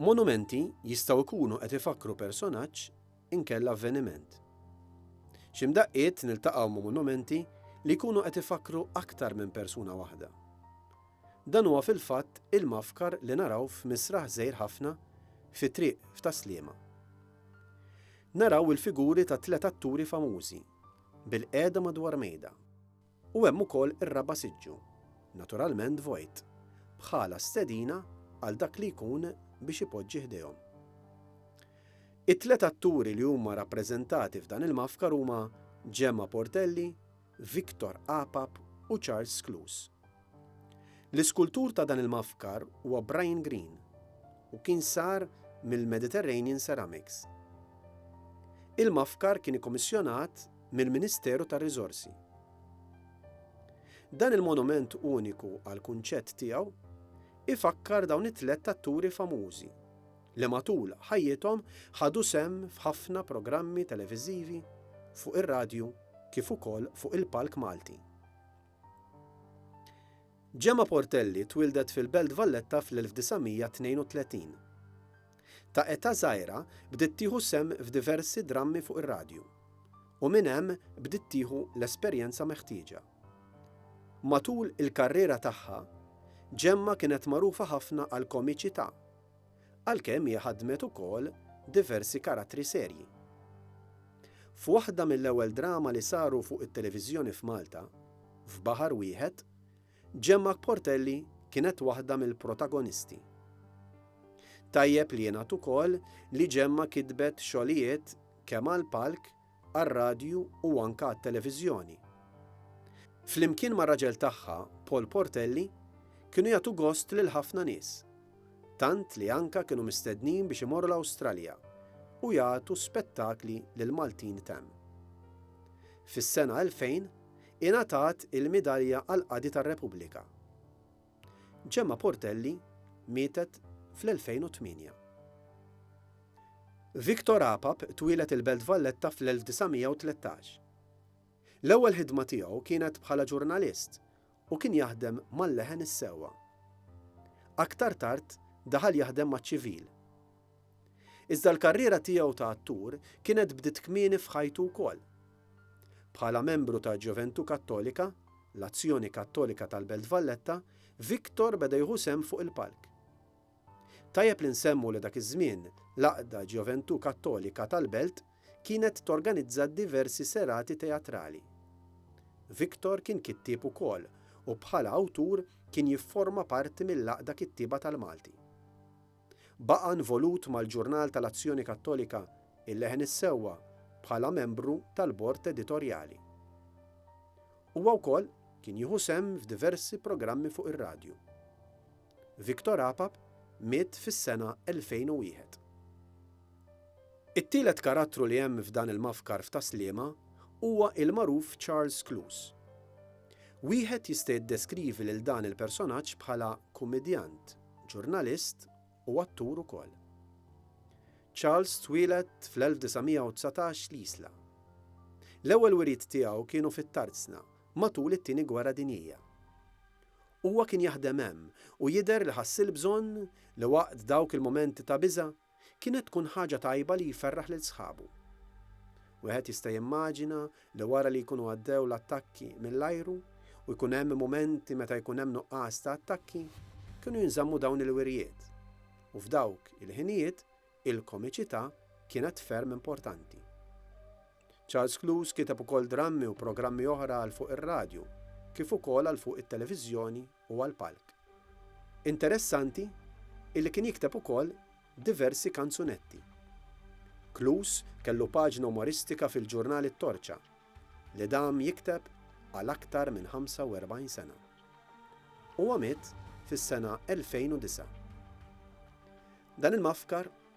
Monumenti jistgħu jkunu qed ifakkru personaġġ inkella avveniment. Xi mdaqqiet niltaqgħu ma' monumenti li jkunu qed ifakkru aktar minn persuna waħda. Dan huwa fil-fatt il-mafkar li naraw f'misraħ żgħir ħafna fi triq f'Tas-Sliema. Naraw il-figuri ta' tliet atturi famużi, bilqiegħda madwar mejda. U hemm ukoll ir-raba' siġġu, naturalment vojt, bħala stedina għal dak li jkun biex ipoġġi ħdejhom. It-tliet atturi li huma rappreżentati f'dan il-mafkar huma Gemma Portelli, Victor Apap u Charles Scluse. L-iskultur ta' dan il-mafkar huwa Brian Green u kien sar mill-Mediterranean Ceramics. Il-mafkar kien ikkomissjonat mill-Ministeru tar-Riżorsi. Dan il-monument uniku għall-kunċett tiegħu ifakkar dawn it-tlett atturi famużi li matul ħajjithom ħadu sehem f'ħafna programmi televiżivi fuq ir-radju kif ukoll fuq il-palk Malti. Gemma Portelli twieldet fil-Belt Valletta fl-1932. Ta' età żgħira bdiet tieħu sehem f'diversi drammi fuq ir-radju, u minn hemm bdiet tieħu l-esperjenza meħtieġa. Matul il-karriera tagħha, Gemma kienet magħrufa ħafna għall-komiċità. għalkemm hi ħaddmet ukoll diversi karattri serji. F'waħda mill-ewwel drama li saru fuq it-televiżjoni f'Malta, F'Baħar Wieħed, Gemma Portelli kienet waħda mill-protagonisti. Tajjeb li jingħad ukoll li Gemma kitbet xogħlijiet kemm għall-palk għar-radju u anke għat-televiżjoni. Flimkien mar-raġel tagħha, Paul Portelli, kienu jagħtu gost lil ħafna nies, tant li anke kienu mistednin biex imorru l-Awstralja u jagħtu spettakli lill-Maltin t'hemm. Fis-sena 2000 ingħatat il-Midalja għall-Qadi tar-Repubblika. Gemma Portelli mietet fl-2008. Victor Apap twieled il-Belt Valletta fl-1913. L-ewwel ħidma tiegħu kienet bħala ġurnalist u kien jaħdem mal-leħen is-sewwa. Aktar tard daħal jaħdem maċ-ċivil. Iżda l-karriera tiegħu ta' attur kienet bdiet kmieni f'ħajtu wkoll. Bħala membru ta' Ġoventù Kattolika, l-Azzjoni Kattolika tal-Belt Valletta, Victor beda jieħu sehem fuq il-palk. Tajjeb li nsemmu li dak iż-żmien l-għaqda Ġoventù Kattolika tal-Belt kienet torganizza diversi serati teatrali. Victor kien kittieb ukoll u bħala awtur kien jifforma parti mill-Għaqda Kittieba tal-Malti. Baqa' involut mal-ġurnal tal-Azzjoni Kattolika, Il-Leħen is-Sewwa, bħala membru tal-bord editorjali. Huwa wkoll kien jieħu sehem f'diversi programmi fuq ir-radju. Victor Apap miet fis-sena 2001. It-tielet karattru li hemm f'dan il-mafkar f'Ta' Sliema huwa il-magħruf Charles Clouse. Wieħed jista' jiddeskrivi lil dan il-personaġġ bħala kumidjant. ġurnalist u attur ukoll. Charles twieled fl-1919 l-Isla. L-ewwel wiriet tiegħu kienu fit-Tarzna matul it-Tieni Gwerra Dinjija. Huwa kien jaħdem hemm u jidher li ħass il-bżonn li waqt dawk il-mumenti ta' biża' Kienet tkun ħaġa tajba li jferraħ lil sħabu. Wieħed jista' jimmaġina li wara li jkunu għaddew l-attakki mill-ajru u jkun hemm mumenti meta jkun hemm nuqqas ta' attakki, kienu jinżammu dawn il-wirjiet. U f'dawk il-ħinijiet, il-komiċità kienet ferm importanti. Charles Cluse kiteb ukoll drammi u programmi oħra għal fuq ir-radju, kif ukoll għal fuq it-televiżjoni u għall-palk. Interessanti illi kien jikteb ukoll diversi kanzunetti. Kloos kellu paġna umoristika fil-ġurnal it-Torċa, li dam jikteb għal aktar minn 45 sena. Huwa miet fis-sena 2009. Dan il-mafkar